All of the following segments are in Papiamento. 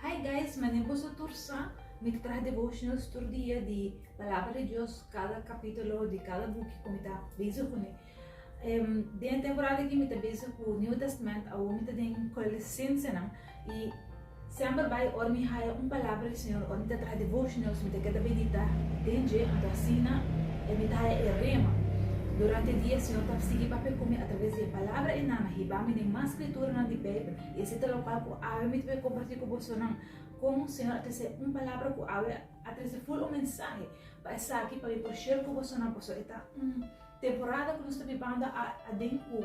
Hi guys, manera boso tur sa, mi ta traha devotionals tur dia di Palabra di Dios, cada capitulo di cada buki cu mi ta bezig cu ne. Em, Den e temporada aki mi ta bezig cu New Testament, awor mi ta den Colossensenan, y semper bai ora mi haya un palabra di Señor, ora mi ta traha devotionals, mi ta keda medita den dje, anto asina e mi ta haya e rema. Durante e dia e Señor ta sigui papia cu mi a traves di e palabra e nan, a hiba mi den mas Skriturnan di Beibel, i esei ta local ku awe mi ta bin kompartí ku bosonan kon Señor a trese un palabra ku awe a trese ful un mensahe pa esaki pa mi por share ku bosonan pasobra e ta un temporada ku nos ta bibando aden ku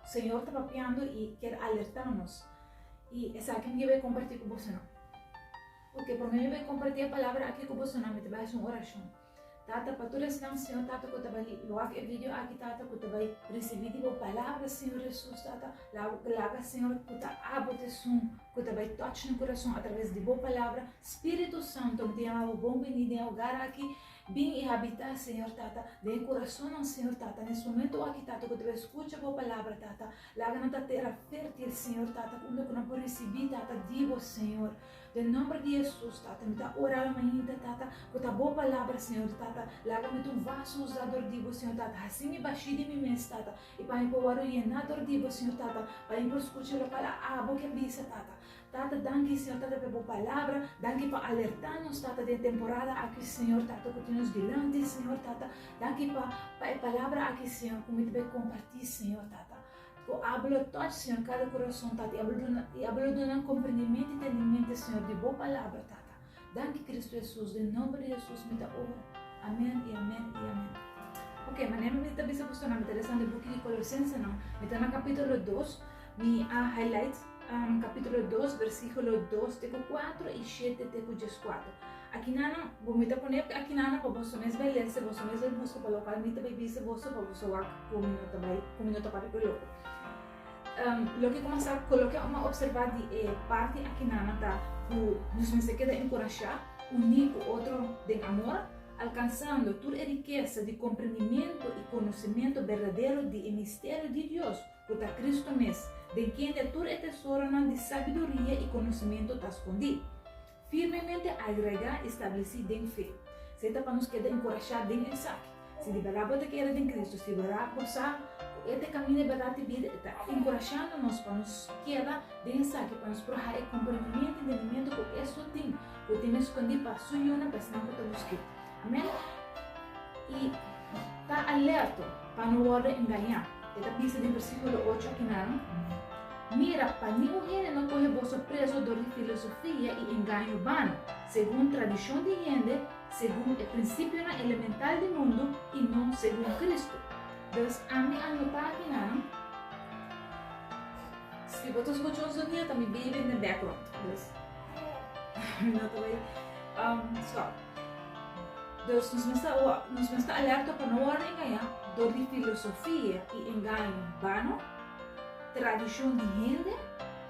Señor ta papiando i kier alertá nos. I esaki mi ke bai kompartí ku bosonan. Oke, promé mi bai kompartí e palabra aki ku bosonan mi ta bai hasi un orashon. Tata, pa tur esnan, Señor, Tata, cu ta bai li, lo hak e video aki, Tata, cu ta bai ricibi di bo palabra, Señor Jesus, Tata. La bo palabra, Señor, cu ta abo ta esun cu ta bai touch nan curason a traves di bo palabra. Spiritu Santo, mi ta yama bo bon beni den e hogar aki. Bin i habita, Señor, Tata, den e curasonnan, Señor, Tata. Nes momento aki, Tata, cu ta bai scucha bo palabra, Tata, laga nan ta tera fertil, Señor, Tata, unda cu nan por ricibi, Tata, di bo, Señor. Den nomber di Hesus Tata mi ta ora lo mainta Tata cu ta bo palabra Señor Tata laga mi ta un vaso usa door di bo Señor Tata haci mi bashi di mi mes Tata y pa mi por word yena door di bo Señor Tata pa mi por scucha lo pala abo ke bisa Tata Tata danki Señor Tata pe bo palabra danki pa alerta nos Tata den temporada aki Señor Tata cu tin nos dilanti Señor Tata danki pa pa e palabra aki Señor cu mi ta bay comparti Señor Tata. Bo abo lo toch, Señor, kada kurason, Tata, i abo lo duna, i abo lo duna nan komprendimentu i tendimentu, Señor, di Bo palabra, Tata. Danki, Kristu Hesus. Den nomber di Hesus mi ta ora. Amen i amen i amen. Oke, manera mi ta bisa boso nan, mi ta lesa nan e buki di Kolosensenan. Mi ta na kapitulo dos. Mi a highlight. kapítulo dos bersíkulo dos te ku kuatro i shete te ku djeskuatro. Aki nan bo mester pone aki nan pa boso mes bai lese, boso mes bai buska pa lokal mi ta bai bisa boso pa boso wak ku mi no ta bai ku mi no ta papia ku e loko. Loke ku masa ku loke mi a opservá di e parti aki nan ta ku nos mester keda enkurashá, uní ku otro den amor, alkansando tur e rikesa di komprendimentu i konosementu berdadero di e misterio di Dios, ku ta Kristu mes, den kende tur e tesoronan di sabiduria i konosementu ta skondí, firmemente airaigá i stablesí den fe. Esei ta pa nos keda enkurashá den esaki. Si di bèrdat bo ta keda den Kristu, si bèrdat bo sa ku e ta e kaminda, e bèrdat i bida, e ta enkurashando nos pa nos keda den esaki, pa nos por haña e komprendimentu i entendimentu ku e so tin, ku tin e skondí pa Su yunan, pa esnan ku ta busk'é. Amen. I ta alerto pa no wòrdu engañá. E ta bisa den versíkulo ocho aki nan, Mira, pa ningun hende no kohe boso preso dor di filosofia i engaño bano, segun tradishon di hende, segun e prinsipionan elemental di mundu i no segun Kristu. Dus ami a notá aki nan, si bo ta skucha un sonido ta mi baby den background, dus ami no ta bai stòp. Dus nos mester oa, nos mester alerto pa no wòrdu engañá dor di filosofia i engaño bano, tradishon di hende,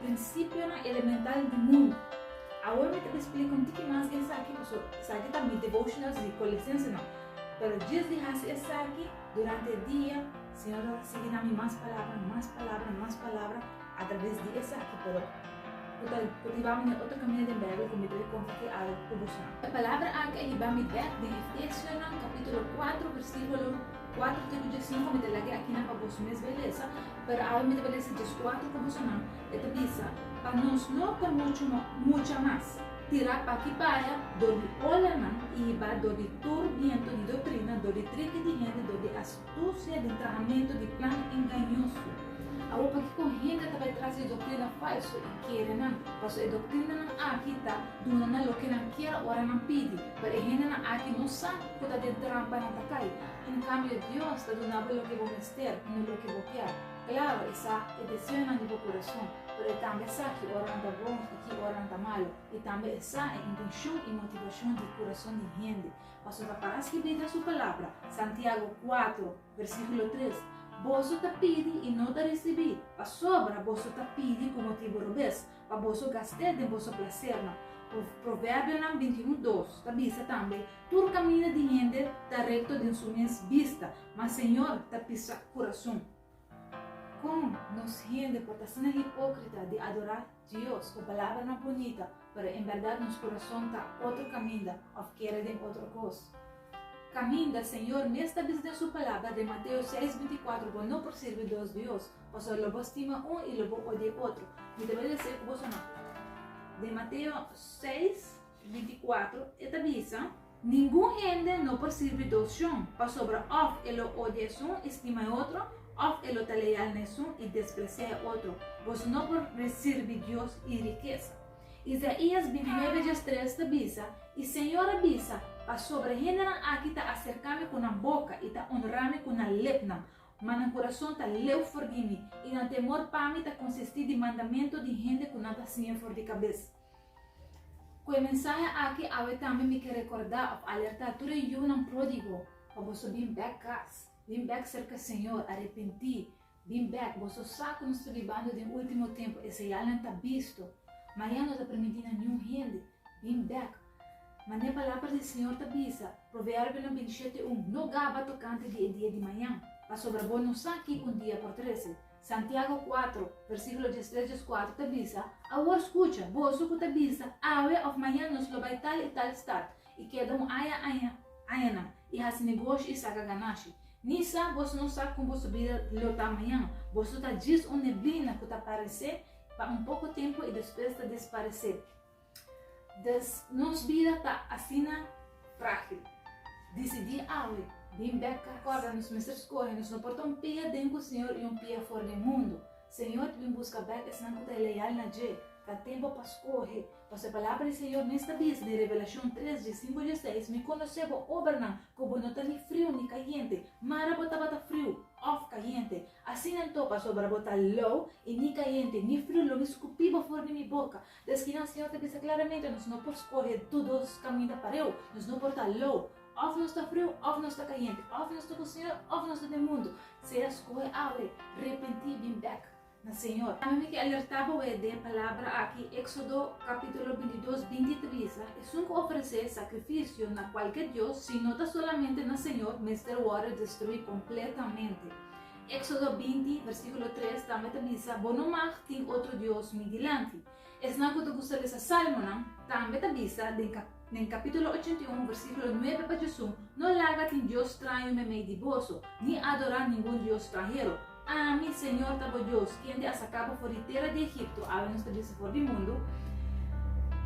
prinsipionan elemental di mundu. Awor mi ta bin splika un tiki mas esaki pasobra esaki ta mi devotionals di Colesensenan. Pero djis di hasi esaki durante e dia, Señor a sigui na mi mas palabra, mas palabra, mas palabra. A traves di esaki por ku ta kultivá mi na otro kaminda den Beibel ku mi por kompartí algu ku boso. E palabra aki a hiba mi bek den Efesionan kapítulo kuatro versíkulo kuatro te ku diesinku. Mi ta lag'e aki nan pa boso mes bai lesa, pero awe mi ta bai lesa djes kuatro ku bosonan. E ta bisa, Pa nos no ta muchu no mucha mas tirá p'aki p'aya dor di olanan i hibá dor di tur bientu di doktrina, dor di triki di hende, dor di Astusia di trahamentu di plan engañoso. Awor pakico hende ta bay tras di doctrina falso y kere nan? Paso e doctrinanan aki ta duna nan loke nan kier ora nan pidi. Pero e hendenan aki no sa cu ta den trampa nan ta cay. En cambio Dios ta duna bo loke bo mester y no loke bo kier. Claro, e sa e deseonan di bo corazon, pero e tambe sa ki ora nan ta bon y ki ora nan ta malo. Y tambe e sa e intencion y motivacion di corazon di hende. Pasobra para skibida su palabra, Santiago kuater, versíkulo tres, Boso ta pidi i no ta risibí, pasobra boso ta pidi ku motibu robes, pa boso gast'é den boso plasernan. Proverbionan binti i un dos ta bisa tambe, Tur kaminda di hende ta rekto den su mes bista, ma Señor ta pisa kurason. Kon nos hende por ta asina hipókrita di adorá Dios, cu palabranan bunita, pero en berdad nos curason ta otro caminda, of kere den otro cos. Caminda, Señor mes ta bisa den su Palabra den Mateo seis binticuatro, Bo no por sirbi dos Dios, pasobra lo bo stima un y lo bo odie otro. Mi ta wili esei cu boso no. Den Mateo seis. 24, e ta bisa, Ningun hende no por sirbi dos shon, pasobra òf e lo odia esun i stima e otro, òf e lo ta leal na esun i despresia e otro. Boso no por sirbi Dios i rikesa. Isaías 29 djes 3 ta bisa, E señor a bisa, Pasobra hendenan aki ta aserká mi ku nan boka i ta onrá mi ku nan lepnan, ma nan kurason ta leu for di mi, i nan temor pa mi ta konsistí di mandamentu di hende ku nan ta siña for di kabes. Ku e mensahe aki awe tambe mi ke rekordá òf alertá tur e yunan pródigo pa boso bin bèk kas, bin bèk serka Señor, arepentí, bin bèk, boso sa ku nos ta bibando den último tempu, e señalnan ta bisto, ma ya no ta permití na niun hende, bin bèk. Ma n'e Palabra di Señor ta bisa, Proverbionan bintisiete un, No gaba tokante di e dia di mañan, pasobra bo no sa kiko un dia por trese. Santiago kuatro, versíkulo dies tres, dies kuatro ta bisa, Awor skucha, boso ku ta bisa, Awe òf mañan nos lo bai tal i tal stat, i keda un aña aña añanan, i hasi negoshi i saka ganashi. Ni sa boso no sa kon boso bida lo ta mañan. Boso ta djis un neblina ku ta paresé pa un poko tempu i despues ta desparesé. Des nos bida ta asina frágil. Disidí awe bin bèk kas. Kòrda, nos mester skohe, nos no por ta un pia den ku Señor i un pia for den mundu. Señor ta bin buska bèk esnan ku ta leal na dje. Ta tempu pa skohe, pasobra palabra di Señor mester bisa den Revelashon tres dje singu dje seis, Mi konosé bo obranan, ku bo no ta ni friu ni kayente. Mara bo tabata friu òf kayente. Asina anto, pasobra bo ta lou i ni kayente ni friu lo mi skupí bo for di mi boka. Des ki nan Señor ta bisa klaramente, nos no por skohe todos kaminda pareu. Nos no por ta lou. Òf nos ta friu, òf nos ta kayente. Òf nos ta ku Señor, òf nos ta den mundu. Sea skohe awe, repentí, bin bèk na Señor. Tambe mi ke alertá bo awe den palabra aki, Éxodo kapítulo binti dos binti tris, Esun ku ofresé sakrifisio na kualke dios, si no ta solamente na Señor, mester wòrdu destruí kompletamente. Éxodo binti, versíkulo tres, tambe ta bisa, Bo no mag tin otro dios mi dilanti. Esnan ku ta gusta lesa Sálmonan tambe ta bisa den den kapítulo ochenta i un, versíkulo nuebe pa djasun, No laga tin dios straño meimei di boso, ni adorá ningun dios stranhero. Ami, Señor, ta bo Dios, kende a saká bo for di tera di Egipto, algu nos ta bisa for di mundu,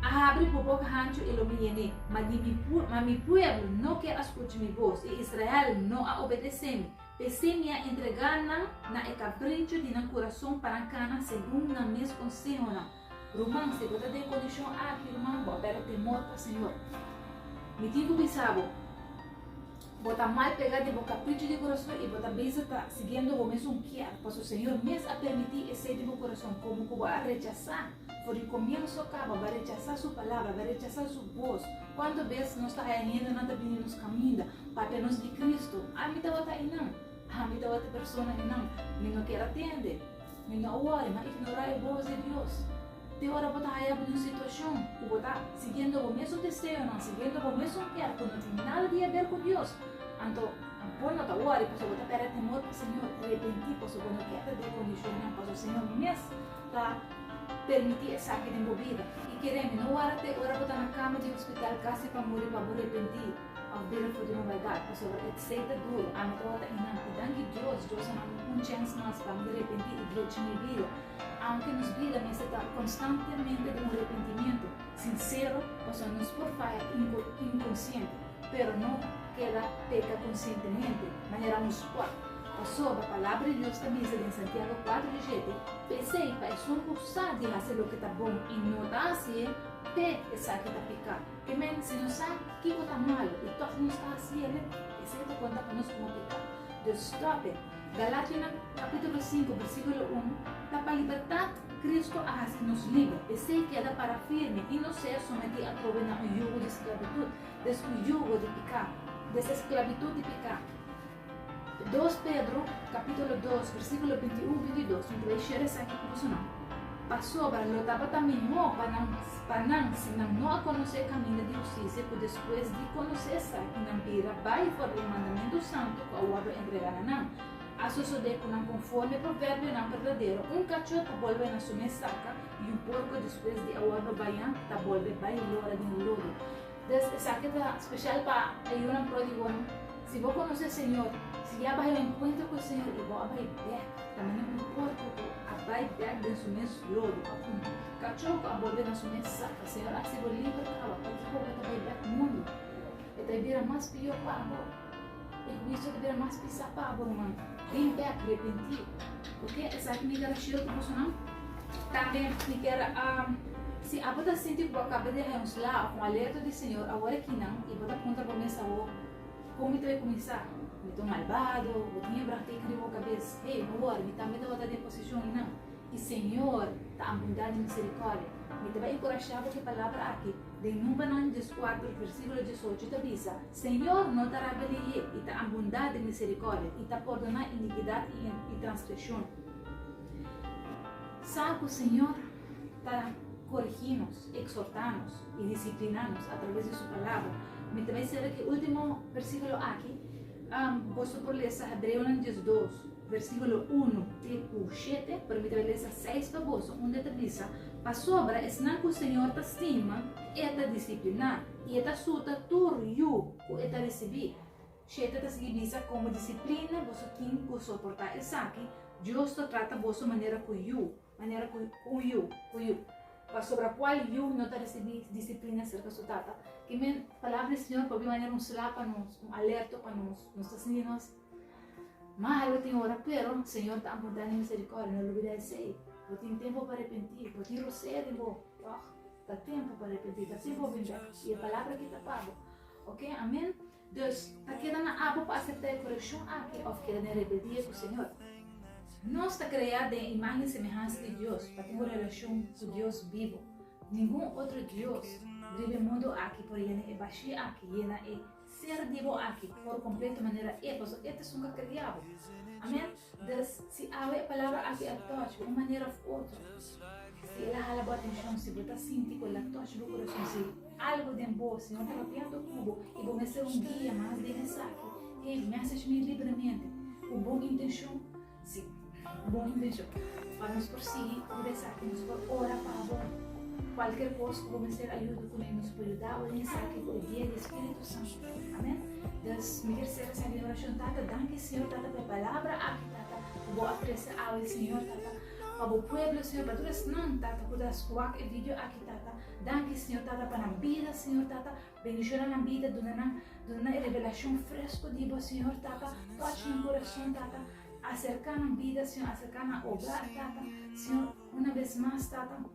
a habri bo boka hanchu i lo mi yené. Ma di mi ma mi pueblo no ke a skucha mi bos, i Israel no a obedesé mi. P'esei mi a entregá nan na e kapricho di nan kurason pa nan kana segun nan mes konsehonan. Ruman, si bo ta den kondishon aki, ruman, bo a pèrdè temor pa Señor. Mi tin ku bisa bo, bo ta mal pegá di bo kapricho di kurason i bo ta bisa ta siguiendo bo mes un kier, paso Señor mes a permití esei di bo kurason. Komo ku bo a rechasá for di komienso, kaba bo a rechasá su palabra, bo a rechasá su bos. Kuantu bes nos ta haya hendenan ta bini nos kaminda pa tenos di Kristu? Ami tabata einan. Ami tabata e persona einan. Mi no kier atende. Mi no a wòri, mi a ignorá e bos di Dios. Te ora bo ta haya bo na un situashon ku bo ta siguiendo bo mesun deseonan, siguiendo bo mesun kier ku no tin nada di haber ku Dios, anto bo no ta wòri pasobra bo ta pèrdè temor pa Señor. Repentí pasobra bo no kier ta den kondishonnan, pasobra Señor mes ta. Permití esaki den bo bida. I keremi, no wara te ora bo ta na kama di hospital kasi pa muri pa bo repentí òf bira for di un baldat, pasobra e tsei ta duru, ami tabata ta inan. I danki Dios, Dios a nan un chèns mas pa ami repentí i drechi mi bida, aunke nos bida mester ta konstantemente den un repentimentu sinsero, pasobra nos por faya inkonsiente, pero no keda peka konsientemente manera nos por. Pasobra Palabra di Dios ta bisa den Santiago kuater di shete, P'esei, pa esun ku sa di hasi loke ta bon i no ta hasié, p'e esaki ta piká. Ke men, si nos sa kiko ta malu i tòg nos ta hasi el, esei ta konta pa nos komo piká. Dus, stòp e. Galatianan kapítulo sinku, bersíkulo un, Ta pa libertat Kristu a hasi nos liber. P'esei keda para firme i no ser sometí atrobe na un yugo di sklabitut, des un yugo di piká, des e sklabitut di piká. Dos Pedro capítulo dos versículo binti un, binti dos, un play share esaki cu bosonan. Pasobra lo tabata mihó pa nan, pa nan si nan no a conoce e caminda di husticia cu despues di conoce esaki nan bira bai for di e mandamiento santo cu a wordo entrega na nan. A sosode cu nan conforme proverbionan berdadero, un cacho ta bolbe na su mes saka y un porco despues di a wordo bayan ta bolbe bai lora den lodo. Des esaki ta speshal pa e yunan pródigonan. Si bo konosé e Señor, si ya a bai un enkuentro ku e Señor i bo a bai bèk, ta manera un korpu ku a bai bèk den su mes lodo pa puntu. Kachó ku a bolbe na su mes saka, Señor a hasi bo liber pa hawa kualke koba ta bai bèk mundu. E ta bira mas pió pa bo. E huicio ta bira mas pisa pa bo ruman den e arrepenti. Oke, esaki mi ta rashiro di bosonan. Tambe mi ker si abo ta sinti ku bo a kaba di haña un sla of un alerto di Señor awor aki nan i bo ta puntra bo mes awor, Kon mi ta bay kuminsá? Mi ta un malbado? Bo tin e brahtica riba bo kabes, Hey, no wori, mi tambe tabata den posishon i nan, i Señor ta ambundá di miserikòrdia. Mi ta bay enkurashá bo ku e palabra aki. Den Numbernan dieskuater versíkulo diesocho ta bisa, Señor no ta rabia leyé, i ta abundá den miserikòrdia, i ta pordoná inikidat i transgreshon. Sa ku Señor ta korigí nos, eksortá nos i disipliná nos atraves di Su Palabra. Mi ta bai sera ku e último versíkulo aki. Boso por lesa Hebreonan diesdos. Versíkulo unu te ku shete, pero mi ta bai lesa seis pa boso, unda e ta bisa, Pasobra esnan ku Señor ta stima, e ta disipliná, i e ta suta tur yu ku e ta risibí. Shete ta sigui bisa, Komo disiplina boso tin ku soportá esaki, Dios lo trata boso manera ku yu. Manera cu un yu, cu yu, pasobra cual yu no ta ricibi disciplina cerca su tata? Ki men palabra di Señor pabia manera un sla pa nos, un alerto pa nos. Nos ta sinti nos malo tin ora, pero Señor ta apunta na e misericordia, no lubida esey. Bo tin tempo pa repenti, bo tin rosea den bo, tog? Ta tempo pa repenti, ta tempo pa bind'e, y e palabra kita pa bo. Ok, amen? Dus, ta keda nan apo pa aseptá e korekshon akí òf keda den rebeldia ku Señor? Nos ta kreá den e imágen i semehansa di Dios pa tin un relashon ku Dios bibu. Ningun otro dios riba e mundu akí por yena e bashí akí, yena e Ser di bo akí por kompleto manera e, pasobra e ta esun ke a kreá bo. Amén. Dors, si awe e palabra aki a touch bo un manera of otro, si el a hala bo atencion, si bo ta sinti cu el a touch bo corazon, si algo den bo, si Señor ta rabiando cu bo y bo mester un guia mas den esaki, hey, message mi libremente, cu bon intencion, si, cu bon intencion, pa nos por sigui cu de esaki, nos por ora pa bo, cualkier cos cu bo mester ayuda cu ne, nos por yuda bo den esaki cu e guia di e Spiritu Santo. Amen. Dus mi kier sera sa di orashon. Tata, danki Señor Tata pa e palabra aki Tata, ku Bo a trese awe Señor Tata, pa Bo pueblo Señor, pa tur esnan Tata ku ta skuak e vidio aki Tata. Danki Señor Tata pa nan bida Señor Tata, bendishona nan bida, duna nan, duna nan e revelashon fresko di Bo Señor Tata, touch nan kurason Tata, aserka nan bida Señor, aserka nan ogar Tata, Señor, una bes mas Tata.